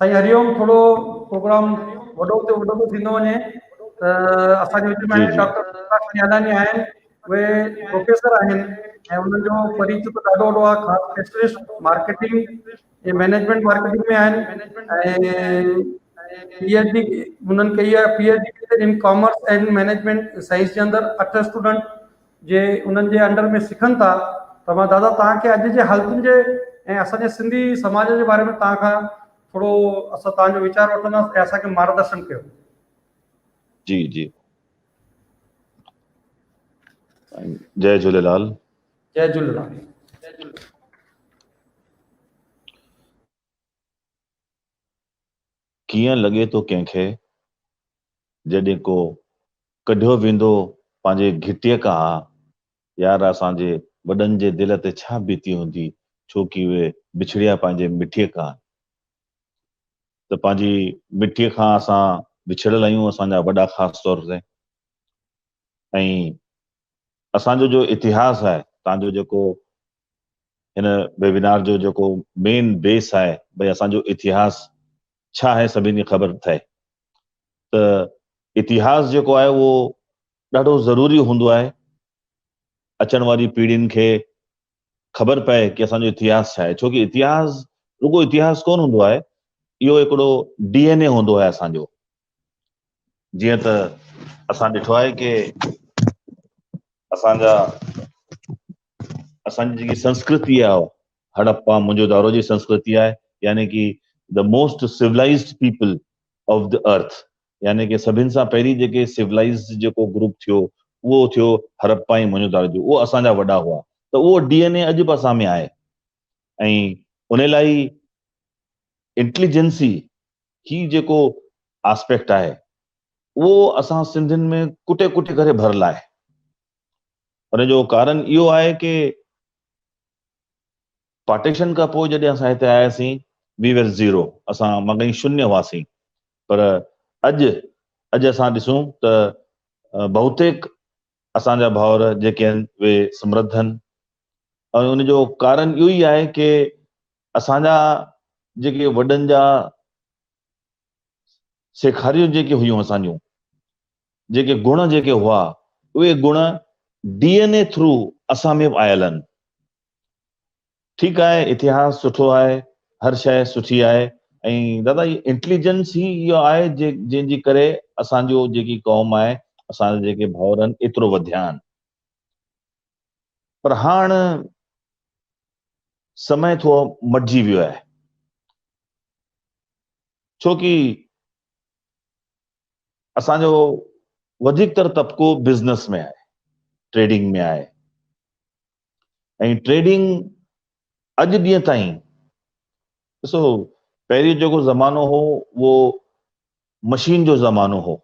سائين هريوم ٿورو پروگرام وڏو تي وڏو ٿو ٿيندو وڃي ته اسان جي وچ ۾ ڊاڪٽر نيالاني آهن اهي پروفيسر آهن ۽ انهن جو فريق ته ڏاڍو وڏو آهي خاص اسپيشلسٽ مارڪيٽنگ اهي مينيجمينٽ مارڪيٽنگ ۾ آهن ۽ پي ايڇ ڊي هنن ڪئي آهي پي ايڇ ڊي ان ڪامرس اينڊ مينيجمينٽ سائنس جي اندر اٺ اسٽوڊنٽ جي انهن جي انڊر ۾ سکن ٿا ته مان دادا تان کي اڄ جي حالتن جي ۽ اسان جي سنڌي سماج جي باري ۾ تان کان ٿورو اسان تان جو ويچار وٺنداسين ۽ اسان کي مارگدرشن ڪيو جي جي جي جهليلال جئ جهللال. ڪيئن لڳي ٿو ڪنهن کي جڏهن ڪو ڪڍيو ويندو پنهنجي گهٽيء کان ها يار اسان جي وڏن جي دل تي ڇا بيتي هوندي ڇو ڪي اهي بڇڙيا پنهنجي مٺيء کان ته پنهنجي مٺيء کان اسان وڇڙيل آهيون اسان جا وڏا خاص طور تي ۽ اسان جو جو اتهاس آهي تان جو جيڪو هن ويبينار جو جيڪو مين بيس آهي ڀئي اسان جو اتهاس ڇا آهي سڀني کي خبر ٿئي ته اتهاس جيڪو آهي اهو ڏاڍو ضروري هوندو آهي اچڻ واري پيڙهين کي خبر پئي ڪي اسان جو اتهاس ڇا آهي ڇو ڪي اتهاس رڳو اتهاس ڪون هوندو آهي اهو هڪڙو ڊي اين اي هوندو آهي اسان جو جيئن ته اسان ڏٺو آهي ڪي اسان جا اسان جي جيڪي سنسڪرتي آهي هڙپا منهنجو دارو جي سنسڪرتي آهي يعني ڪي the most civilized people of the earth يعني ڪه سڀن سان پهرين جيڪي سولائيزڊ جيڪو گروپ ٿيو اهو ٿيو هرپا ۽ موهنجو داڙو جو اهو اسان جا وڏا هئا ته اهو ڊي اين اي اڄ به اسان ۾ آهي ۽ ان لاء هي انٽليجنسي هي جيڪو آسپيڪٽ آهي اهو اسان سنڌين ۾ ڪٽي ڪٽي ڪري ڀرل آهي ان جو ڪارن اهو آهي ڪه پارٽيشن کان پوء جڏهن اسان هتي آياسين، وي وير زيرو، اسان مگهين شونيه هئاسين، پر اڄ، اڄ اسان ڏسون ته بهوتيڪ اسان جا ڀائر جيڪي آهن اهي سمرڌ آهن ۽ ان جو ڪارڻ اهو ئي آهي ڪي اسان جا جيڪي وڏن جا سيکاريون جيڪي هيون اسان جون، جيڪي گڻ جيڪي هئا، اهي گڻ ڊي اين اي ٿرو اسان ۾ به آيل آهن، ٺيڪ آهي اتهاس سٺو آهي هر شيء سٺي آهي ۽ دادا هي انٽيليجنس هي اهو آهي جنهن جي ڪري اسان جو جيڪي قوم آهي اسان جا جيڪي ڀاؤر آهن ايترو وڌيا آهن پر هاڻ سمي ٿو مٽجي ويو آهي ڇو ڪي اسان جو وڌيڪ تر طبقو بزنس ۾ آهي ٽريڊنگ ۾ آهي ۽ ٽريڊنگ اڄ ڏينهن تائين ڏسو پهرين جيڪو زمانو هو اهو مشين جو زمانو هو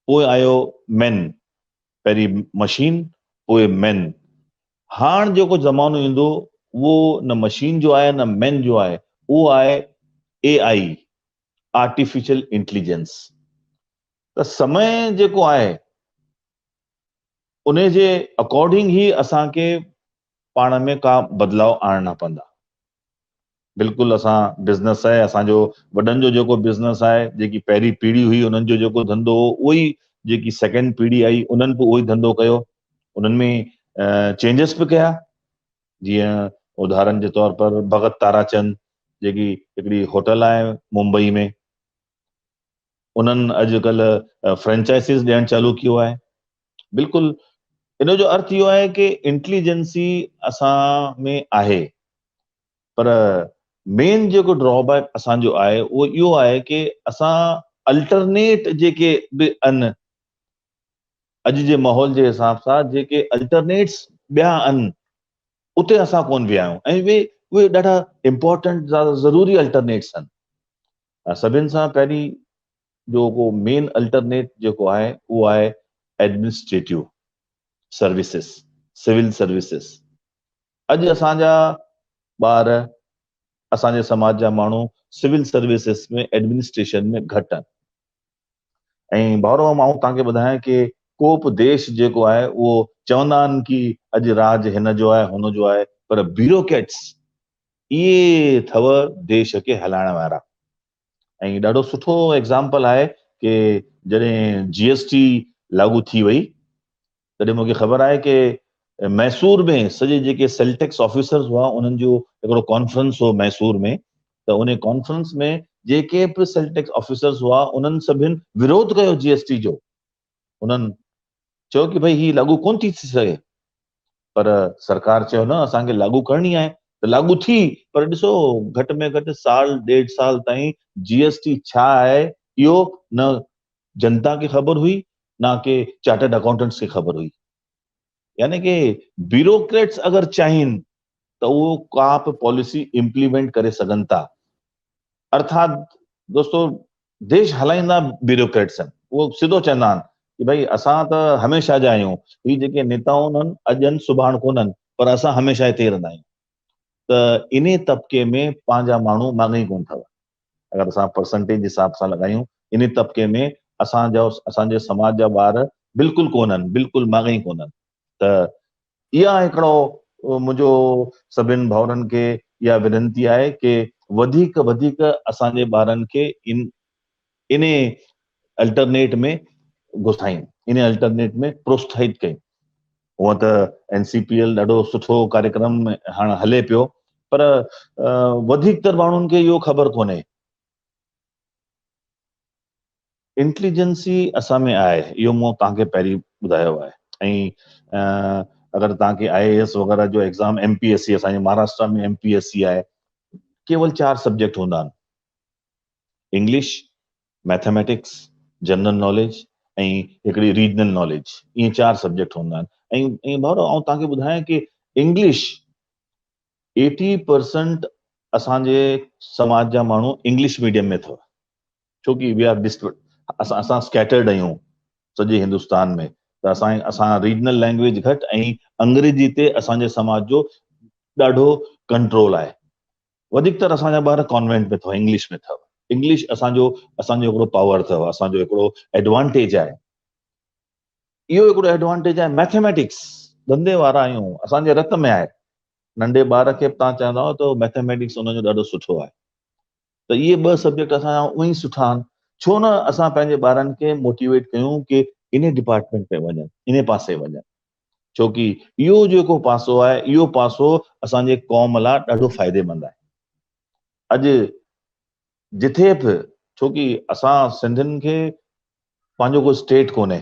پوء آيو مين پهرين مشين پوء مين هاڻ جيڪو زمانو ايندو اهو نه مشين جو آهي نه مين جو آهي اهو آهي اي آئي آرٽيفيشل انٽيليجنس ته سمي جيڪو آهي انهي جي اڪارڊنگ هي اسان کي پاڻ ۾ ڪا بدلاء آڻڻا پوندا. بلڪل اسان بزنس آهي اسان جو وڏن جو جيڪو بزنس آهي جيڪي پهرين پيڙهي هئي انهن جو جيڪو ڌنڌو هو اهو ئي جيڪي سيڪنڊ پيڙهي آئي انهن به اهو ئي ڌنڌو ڪيو انهن ۾ چينجز به ڪيا جيئن ادهارن جي طور پر ڀڳت تارا چند جيڪي هڪڙي هوٽل آهي ممبئي ۾ انهن اڄ ڪلهه فرنچائسيز ڏيڻ چالو ڪيو آهي بلڪل ان جو ارٿ اهو آهي ڪي انٽليجنسي اسان ۾ آهي پر مين جيڪو ڊرا بيڪ اسان جو آهي اهو اهو آهي ڪي اسان الٽرنيٽ جيڪي به ان اڄ جي ماحول جي حساب سان جيڪي الٽرنيٽس ٻيا ان اتي اسان ڪون ويا آهيون ۽ اهي ڏاڍا امپورٽنٽ ضروري الٽرنيٽس آهن سڀن سان پهرين جو ڪو مين الٽرنيٽ جيڪو آهي اهو آهي ايڊمنسٽريٽو سروسز سول سروسز اڄ اسان جا ٻار اسان جي سماج جا ماڻهو سول سروسز ۾ ايڊمنسٽريشن ۾ گهٽ آهن ۽ ڀائرو مان توهان کي ٻڌايان ڪي ڪوپ ديش جيڪو آهي اهو چوندا آهن ڪي اڄ راج هن جو آهي هن جو آهي پر بيروڪيٽس اهي اٿو ديش کي هلائڻ وارا ۽ ڏاڍو سٺو ايگزامپل آهي ڪي جڏهن جي ايس ٽي لاڳو ٿي وئي تڏهن مون کي خبر آهي ڪي ميسور ۾ سڄي جيڪي سيلٽيڪس آفيسرز هئا انهن جو هڪڙو ڪانفرنس هو ميسور ۾ ته انهي ڪانفرنس ۾ جيڪي به سيلٽيڪس آفيسرز هئا انهن سڀن وروڌ ڪيو جي ايس ٽي جو انهن چيو ڪي ڀئي هي لاڳو ڪون ٿي ٿي سگهي پر سرڪار چيو نه اسان کي لاڳو ڪرڻي آهي ته لاڳو ٿي پر ڏسو گهٽ ۾ گهٽ سال ڏيڍ سال تائين جي ايس ٽي ڇا آهي اهو نه جنتا کي خبر هئي نه ڪي چارٽرڊ اڪائونٽنٽس کي خبر هئي. يعني ڪي بيوروڪريٽس اگر چاهين ته اهو ڪا به پاليسي امپليمينٽ ڪري سگهن ٿا. ارٿات دوستو ديش هلائيندا بيوروڪريٽس آهن. اهو سڌو چوندا آهن ڪي ڀائي اسان ته هميشه جا آهيون. هي جيڪي نيتائون آهن اڄ آهن سڀاڻ ڪونهن پر اسان هميشه هتي رهندا آهيون. ته انهي طبقي ۾ پنهنجا ماڻهو ماڳهين ڪونه ٿا وهن. اگر اسان پرسنٽيج جي حساب سان لڳايون انهي طبقي ۾ اسان جو اسان جي سماج جا ٻار بلڪل ڪونهن بلڪل ماڳهين ڪونهن ته اها هڪڙو منهنجو سڀن ڀائرن کي اها وننتي آهي ڪي وڌيڪ وڌيڪ اسان جي ٻارن کي ان انهي الٽرنيٽ ۾ گهسائين انهي الٽرنيٽ ۾ پروستاهت ڪيون هونئن ته اين سي پي ايل ڏاڍو سٺو ڪاريڪرم هاڻ هلي پيو پر وڌيڪ تر ماڻهن کي اهو خبر ڪونهي. انٽليجنسي اسان ۾ آهي اهو مون توهان کي پهرين ٻڌايو آهي ۽ اگر توهان کي آء اي ايس وغيره جو exam M P S C اسان جي Maharashtra ۾ M P S C آهي ڪيول چار سبجيڪٽ هوندا آهن انگلش ميٿميٽڪس، جنرل ناليج ۽ هڪڙي ريجنل ناليج اهي چار سبجيڪٽ هوندا آهن ۽ ڀائرو آئون توهان کي ٻڌايان ڪي انگلش ايٽي پرسنٽ اسان جي سماج جا ماڻهو انگلش ميڊيم ۾ اٿو ڇو ڪي وي آر ڊسٽ اسان اسان اسڪيٽرڊ آهيون سڄي هندستان ۾ ته اسان اسان ريجنل لينگويج گهٽ ۽ انگريزي تي اسان جي سماج جو ڏاڍو ڪنٽرول آهي وڌيڪ تر اسان جا ٻار ڪانوينٽ ۾ اٿئو انگلش ۾ اٿئو انگلش اسان جو اسان جو هڪڙو پاور اٿئو اسان جو هڪڙو ايڊوانٽيج آهي اهو هڪڙو ايڊوانٽيج آهي ميٿيميٽڪس ڌنڌي وارا آهيون اسان جي رت ۾ آهي ننڍي ٻار کي به تان چوندا آهيو ته ميٿيميٽڪس ان جو ڏاڍو سٺو آهي ته اهي ٻه سبجيڪٽ اسان جا اونئي سٺا آهن ڇو نه اسان پنهنجي ٻارن کي موٽيويٽ ڪيون ڪي انهي ڊپارٽمينٽ ۾ وڃن انهي پاسي وڃن ڇوڪي اهو جيڪو پاسو آهي اهو پاسو اسان جي قوم لاء ڏاڍو فائديمند آهي. اڄ جٿي به ڇوڪي اسان سنڌين کي پنهنجو ڪو اسٽيٽ ڪونهي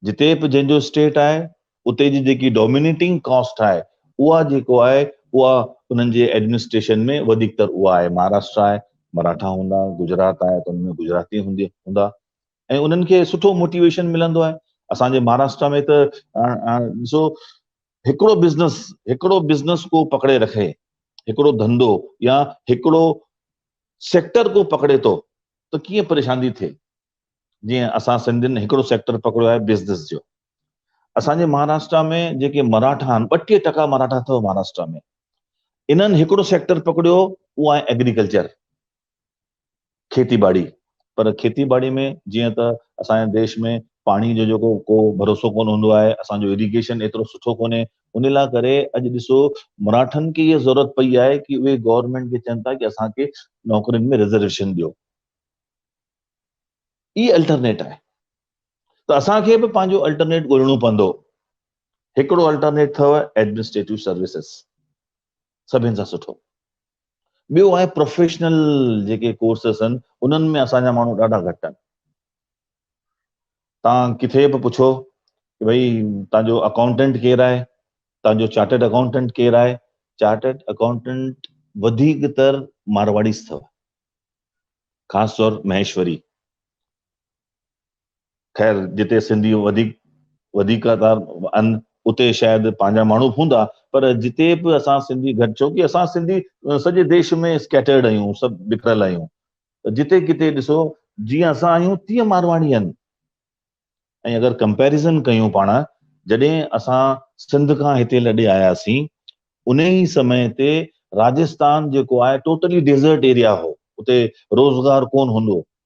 جتي به جنهن جو اسٽيٽ آهي اتي جي جيڪي ڊومينيٽنگ ڪاسٽ آهي اها جيڪو آهي اها انهن جي ايڊمنسٽريشن ۾ وڌيڪتر اها آهي مهاراشٽرا آهي مراٺا هوندا گجرات آهي ته ان ۾ گجراتي هوندا ۽ انهن کي سٺو موٽيويشن ملندو آهي اسان جي مهاراشٽرا ۾ ته ڏسو هڪڙو بزنس هڪڙو بزنس ڪو پڪڙي رکي هڪڙو ڌنڌو يا هڪڙو سيڪٽر ڪو پڪڙي ٿو ته ڪيئن پريشان ٿي ٿئي جيئن اسان سنڌين هڪڙو سيڪٽر پڪڙيو آهي بزنس جو اسان جي مهاراشٽرا ۾ جيڪي مراٺا آهن ٻٽيهه ٽڪا مراٺا اٿو مهاراشٽرا ۾ انهن هڪڙو سيڪٽر پڪڙيو اهو آهي ايگريڪلچر کيتي ٻاڙي پر کيتي ٻاڙي ۾ جيئن ته اسان جي ديش ۾ پاڻي جو جيڪو ڪو ڀروسو ڪونه هوندو آهي اسان جو اريگيشن ايترو سٺو ڪونهي ان لا ڪري اڄ ڏسو مراٺن کي هي ضرورت پئي آهي ڪي اهي گورنمينٽ کي چون ٿا ڪي اسان کي نوڪرين ۾ ريزرويشن ڏيو هي الٽرنيٽ آهي ته اسان کي به پنهنجو الٽرنيٽ ڳولڻو پوندو هڪڙو الٽرنيٽ اٿو ايڊمنسٽريٽو سروسز سڀن سان سٺو. ٻيو آهي پروفيشنل جيڪي ڪورسز آهن انهن ۾ اسان جا ماڻهو ڏاڍا گهٽ آهن تان کٿي به پڇو ته ڀئي تان جو اڪاؤنٽنٽ ڪير آهي تان جو چارٽرڊ اڪاؤنٽنٽ ڪير آهي چارٽرڊ اڪاؤنٽنٽ وڌيڪ تر مارواڙيز اٿو خاص طور مهيشوري خير جتي سنڌي وڌيڪ وڌيڪ اتار ان اتي شايد پنهنجا ماڻهو به هوندا پر جتي به اسان سنڌي گهٽ ڇو ڪي اسان سنڌي سڄي ديش ۾ اسڪيٽرڊ آهيون سڀ بکريل آهيون جتي ڪتي ڏسو جيئن اسان آهيون تيئن مارواڙي آهن ۽ اگر ڪمپيريزن ڪيون پاڻ جڏهن اسان سنڌ کان هتي لڏي آياسين ان ئي سمي تي راجستان جيڪو آهي ٽوٽلي ڊيزرٽ ايريا هو اتي روزگار ڪون هوندو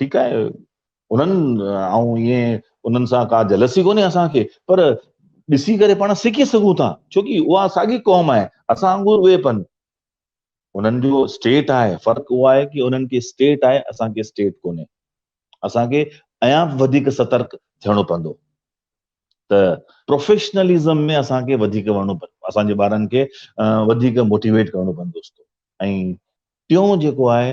ٺيڪ آهي انهن آئون ائين انهن سان ڪا جلسي ڪونهي اسان کي پر ڏسي ڪري پاڻ سکي سگهون ٿا ڇوڪي اها ساڳي قوم آهي اسان وانگر اهي پن انهن جو اسٽيٽ آهي فرق اهو آهي ڪي انهن کي اسٽيٽ آهي اسان کي اسٽيٽ ڪونهي اسان کي ايان وڌيڪ سترڪ ٿيڻو پوندو ته پروفيشنلزم ۾ اسان کي وڌيڪ وڙهڻو پوندو اسان جي ٻارن کي وڌيڪ موٽيويٽ ڪرڻو پوندو ۽ ٽيون جيڪو آهي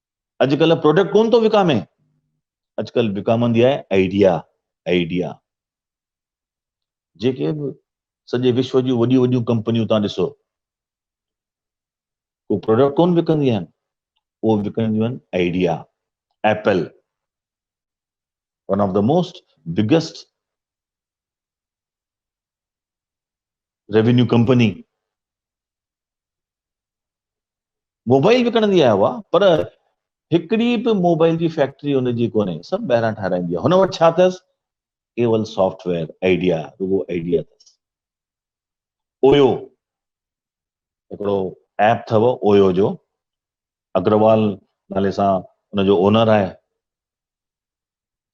اڄ ڪلهه پروڊڪٽ ڪونه ٿو وڪامي اڄ ڪلهه وڪامندي آهي آئيڊيا آئيڊيا جيڪي به سڄي وشو جون وڏيون وڏيون ڪمپنيون تان ڏسو اهو پروڊڪٽ ڪونه وڪنديون آهن اهو وڪنديون آهن idea Apple one of the most biggest revenue company mobile وڪڻندي آهي اها پر هڪڙي به موبائل جي فيڪٽري ان جي ڪونهي سڀ ٻاهران ٺهرائيندي آهي هن وٽ ڇا اٿس ڪيول سافٽ ويئر آئيڊيا رڳو آئيڊيا اٿس اويو هڪڙو ايپ اٿو اويو جو اگروال نالي سان ان جو اونر آهي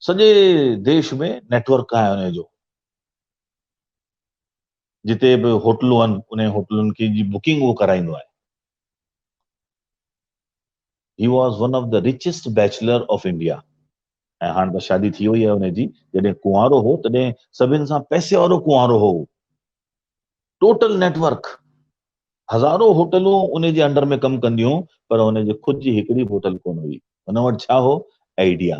سڄي ديش ۾ نيٽورڪ آهي ان جو جتي به هوٽلون آهن انهن هوٽلن کي جي بڪنگ هو ڪرائيندو آهي. He was one of the richest bachelor of India ۽ هاڻ ته شادي ٿي وئي آهي ان جي جڏهن ڪنوارو هو تڏهن سڀن سان پئسي وارو ڪنوارو هو ٽوٽل نيٽ ورڪ هزارو هوٽلون ان جي انڊر ۾ ڪم ڪنديون پر ان جي خود جي هڪڙي به هوٽل ڪونه هئي ان وٽ ڇا هو آئيڊيا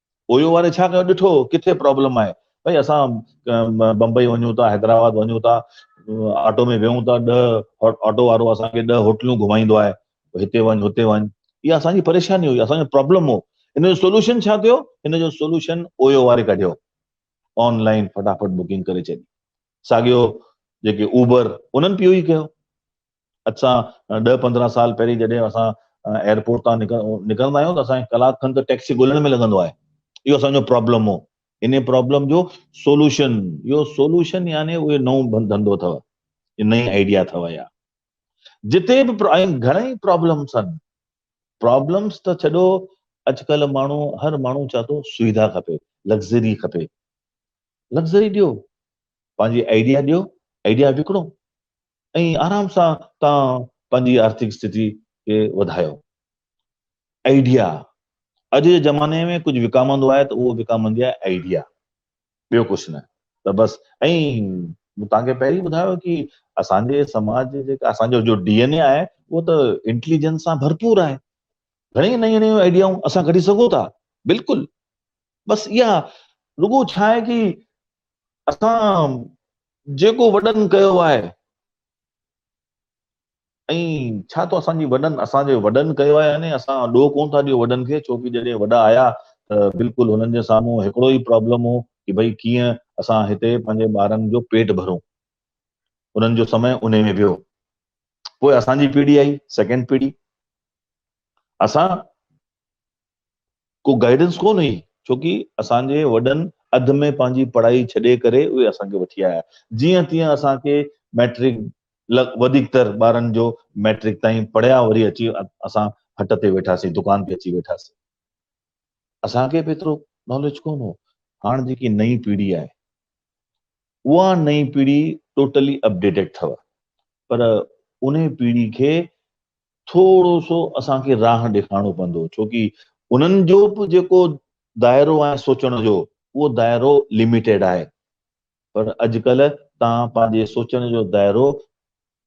اويو واري ڇا ڪيو ڏٺو ڪٿي پرابلم آهي ڀئي اسان بمبئي وڃون ٿا حيدرآباد وڃون ٿا آٽو ۾ ويهون ٿا ڏهه آٽو وارو اسان کي ڏهه هوٽلون گهمائيندو آهي هتي وڃ هتي وڃ اها اسان جي پريشاني هئي اسان جو پرابلم هو ان جو سولوشن ڇا ٿيو ان جو سولوشن اويو واري ڪڍيو آنلائن فٽافٽ بڪنگ ڪري ڇڏي ساڳيو جيڪي اوبر انهن به اهو ئي ڪيو اڄ سان ڏهه پندرهن سال پهرين جڏهن اسان ايئرپورٽ تان نڪرندا آهيون ته اسان کي ڪلاڪ کن ته ٽيڪسي ڳولڻ ۾ لڳندو آهي اهو اسان جو پرابلم هو انهي پرابلم جو سولوشن اهو سولوشن يعني اهو نئون ڌنڌو اٿو نئين آئيڊيا اٿو يا جتي به گهڻي پرابلمس آهن پرابلمس ته ڇڏو اڄڪلهه ماڻهو هر ماڻهو چاهي ٿو سويڌا کپي لگزري کپي لگزري ڏيو پنهنجي آئيڊيا ڏيو آئيڊيا وڪڻو ۽ آرام سان توهان پنهنجي آرٿڪ استٿي کي وڌايو. آئيڊيا، اڄ جي زماني ۾ ڪجهه وڪامندو آهي ته اهو وڪامندي آهي آئيڊيا ٻيو ڪجهه نه ته بس ۽ مون توهان کي پهرين ٻڌايو ڪي اسان جي سماج جي جيڪا اسان جو جو ڊي اين اي آهي اهو ته انٽيليجنس سان ڀرپور آهي گهڻي نيون نيون آئيڊيائون اسان ڪڍي سگهون ٿا بلڪل بس اها رڳو ڇا آهي ڪي اسان جيڪو وڏن ڪيو آهي. ۽ ڇا تو اسان جي وڏن اسان جي وڏن ڪيو آهي يعني اسان ڏوهه ڪون ٿا ڏيو وڏن کي ڇو ڪي جڏهن وڏا آيا ته بلڪل هنن جي سامهون هڪڙو ئي پرابلم هو ڪي ڀئي ڪيئن اسان هتي پنهنجي ٻارن جو پيٽ ڀرون هنن جو سمي انهي ۾ ويو پوء اسان جي پيڙهي آئي سيڪنڊ پيڙهي اسان ڪو گائيڊنس ڪونه هئي ڇوڪي اسان جي وڏن اڌ ۾ پنهنجي پڙهائي ڇڏي ڪري اهي اسان کي وٺي آيا جيئن تيئن اسان کي مئٽرڪ وڌيڪ تر ٻارن جو مئٽرڪ تائين پڙهيا وري اچي اسان هٽ تي ويٺاسين دڪان تي اچي ويٺاسين اسان کي به ايترو ناليج ڪونه هو هاڻ جيڪي نئين پيڙهي آهي اها نئين پيڙهي ٽوٽلي اپڊيٽيڊ اٿو پر انهي پيڙهي کي ٿورو سو اسان کي راهن ڏيکارڻو پوندو ڇوڪي انهن جو به جيڪو دائرو آهي سوچڻ جو اهو دائرو لميٽيڊ آهي پر اڄڪلهه تان پنهنجي سوچڻ جو دائرو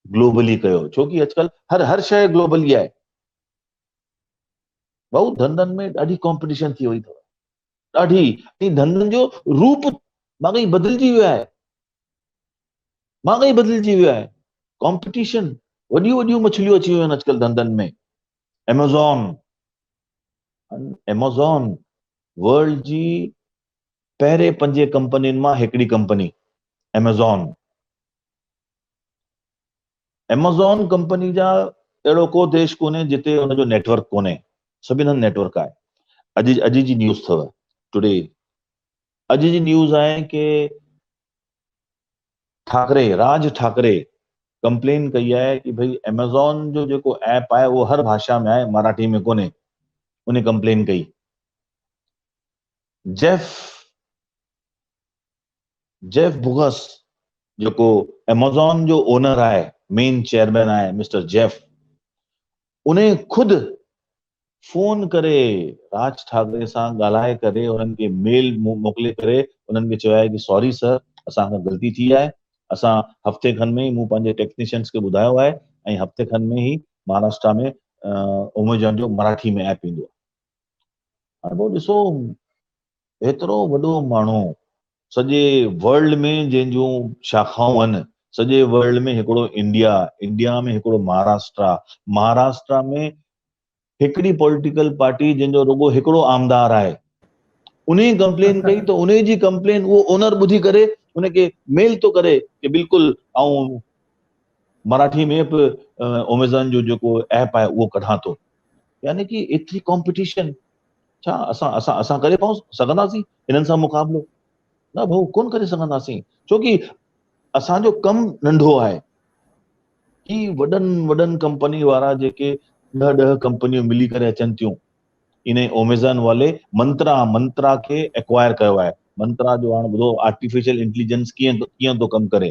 گلوبلي ڪيو ڇوڪي اڄڪلهه هر هر شيء گلوبلي آهي بهو ڌنڌن ۾ ڏاڍي ڪامپيٽيشن ٿي وئي اٿو ڏاڍي ۽ ڌنڌن جو روپ واقعي بدلجي ويو آهي واقعي بدلجي ويو آهي ڪمپٽيشن وڏيون وڏيون مڇليون اچي ويون آهن اڄڪلهه ڌنڌن ۾ ايمازون ايمازون ورلڊ جي پهري پنج ڪمپنين مان هڪڙي ڪمپني ايمازون ايمازون ڪمپني جا اهڙو ڪو ديش ڪونهي جتي ان جو نيٽ ورڪ ڪونهي سڀني هنڌ نيٽ ورڪ آهي اڄ اڄ جي نيوز اٿو ٽوڊي اڄ جي نيوز آهي ڪي ٺاڪري راج ٺاڪري ڪمپلين ڪئي آهي ڪي ڀئي ايمازون جو جيڪو ايپ آهي اهو هر ڀاشا ۾ آهي مراٺي ۾ ڪونهي ان ڪمپلين ڪئي جيف جيف بوگس جيڪو ايمازون جو اونر آهي مين چيئرمين آهي مسٽر جيف ان خود فون ڪري راج ٺاڪري سان ڳالهائي ڪري انهن کي ميل موڪلي ڪري انهن کي چيو آهي ڪي سوري سر اسان کان غلطي ٿي آهي اسان هفتي کن ۾ ئي مون پنهنجي ٽيڪنيشنس کي ٻڌايو آهي ۽ هفتي کن ۾ ئي مهاراشٽرا ۾ ايمازون جو مراٺي ۾ ايپ ايندو هاڻي پوء ڏسو ايترو وڏو ماڻهو سڄي ورلڊ ۾ جنهن جون شاخائون آهن سڄي ورلڊ ۾ هڪڙو انڊيا انڊيا ۾ هڪڙو مهاراشٽرا مهاراشٽرا ۾ هڪڙي پوليٽيڪل پارٽي جنهن جو رڳو هڪڙو آمدار آهي ان جي ڪمپلين ڪئي ته ان جي ڪمپلين اهو اونر ٻڌي ڪري ان کي ميل ٿو ڪري ته بلڪل آئون مراٺي ۾ به اميزون جو جيڪو ايپ آهي اهو ڪڍان ٿو يعني ڪي ايتري ڪمپٽيشن ڇا اسان اسان اسان ڪري پئون سگهنداسين هنن سان مقابلو؟ نه ڀائو ڪونه ڪري سگهنداسين ڇو ڪي اسان جو ڪم ننڍو آهي هي وڏن وڏن ڪمپني وارا جيڪي ڏهه ڏهه ڪمپنيون ملي ڪري اچن ٿيون ان اوميزان والي منترا منترا کي اڪوائر ڪيو آهي منترا جو هاڻ ٻڌو آرٽيفيشل انٽيليجنس ڪيئن ڪيئن ٿو ڪم ڪري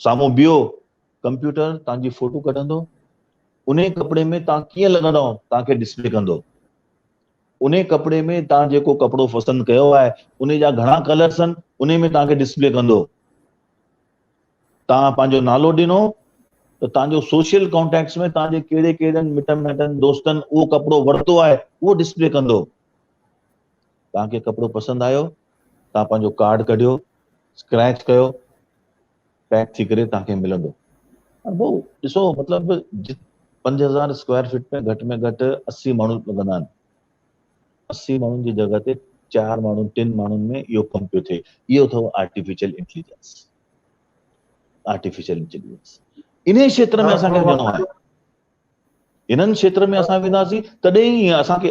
سامهون بيهو، ڪمپيوٽر توهان جي فوٽو ڪڍندو، انهي ڪپڙي ۾ توهان ڪيئن لڳندؤ توهان کي ڊسپلي ڪندو. انهي ڪپڙي ۾ توهان جيڪو ڪپڙو پسند ڪيو آهي انهي جا گهڻا ڪلرس آهن انهي ۾ توهان کي ڊسپلي ڪندو. توهان پنهنجو نالو ڏنو ته توهان جو سوشل ڪانٽيڪٽس ۾ توهان جي ڪهڙي ڪهڙن مٽن مائٽن دوستن اهو ڪپڙو ورتو آهي اهو ڊسپلي ڪندو. توهان کي ڪپڙو پسند آيو ته توهان پنهنجو ڪارڊ ڪڍيو اسڪريچ ڪيو پيڪ ٿي ڪري توهان کي ملندو پر بو ڏسو مطلب جت پنج هزار اسڪوائر فٽ ۾ گهٽ ۾ گهٽ اسي ماڻهو لڳندا آهن اسي ماڻهن جي جڳهه تي چار ماڻهو ٽن ماڻهن ۾ اهو ڪم پيو ٿئي اهو اٿو آرٽيفيشل انٽيليجنس آرٽيفيشل انٽيليجنس انهي کيتر ۾ اسان کي وڃڻو آهي انهن کيتر ۾ اسان وينداسين تڏهن ئي اسان کي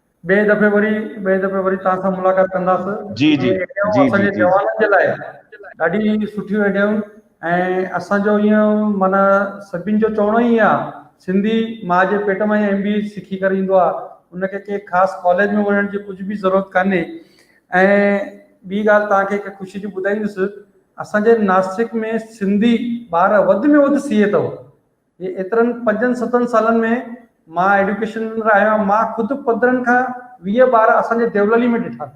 ٻئي دفعي وري ٻئي دفعي وري توهان سان ملاقات ڪنداسون جي جي جي جي جي جوانن جي لاء ڏاڍي سٺيون ايڊيائون ۽ اسان جو ايئن معنيٰ سڀين جو چوڻو ئي آ سنڌي ماء جي پيٽ مان ايم بي سکي ڪري ايندو آ ان کي ڪي خاص ڪاليج ۾ وڃڻ جي ڪجھ به ضرورت ڪانهي ۽ ٻي ڳالھ توهان کي هڪ خوشي جي ٻڌائيندس اسان جي ناسڪ ۾ سنڌي ٻار وڌ ۾ وڌ سي اي تھو جي ايترن پنجن ستن سالن ۾ مان ايڊيوڪيشن اندر آيو آهيان مان خود پندرهن کان ويهه ٻار اسان جي ديوللي ۾ ڏٺا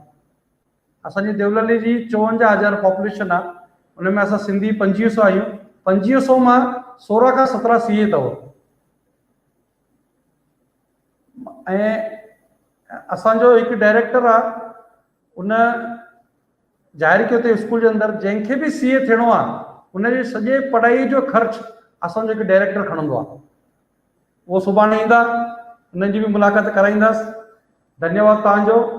اسان جي ديوللي جي چوونجاهه هزار پاپوليشن آهي ان ۾ اسان سنڌي پنجويهه سو آهيون پنجويهه سو مان سورهن کان سترهن سي اي اٿو ۽ اسان جو هڪ ڊائريڪٽر آهي ان ظاهر ڪيو ته اسڪول جي اندر جنهن کي به سي اي ٿيڻو آهي ان جي سڄي پڙهائي جو خرچ اسان جو هڪ ڊائريڪٽر کڻندو آهي اهو سڀاڻي ايندا انهن جي به ملاقات ڪرائينداس ڌنيواد توهان جو.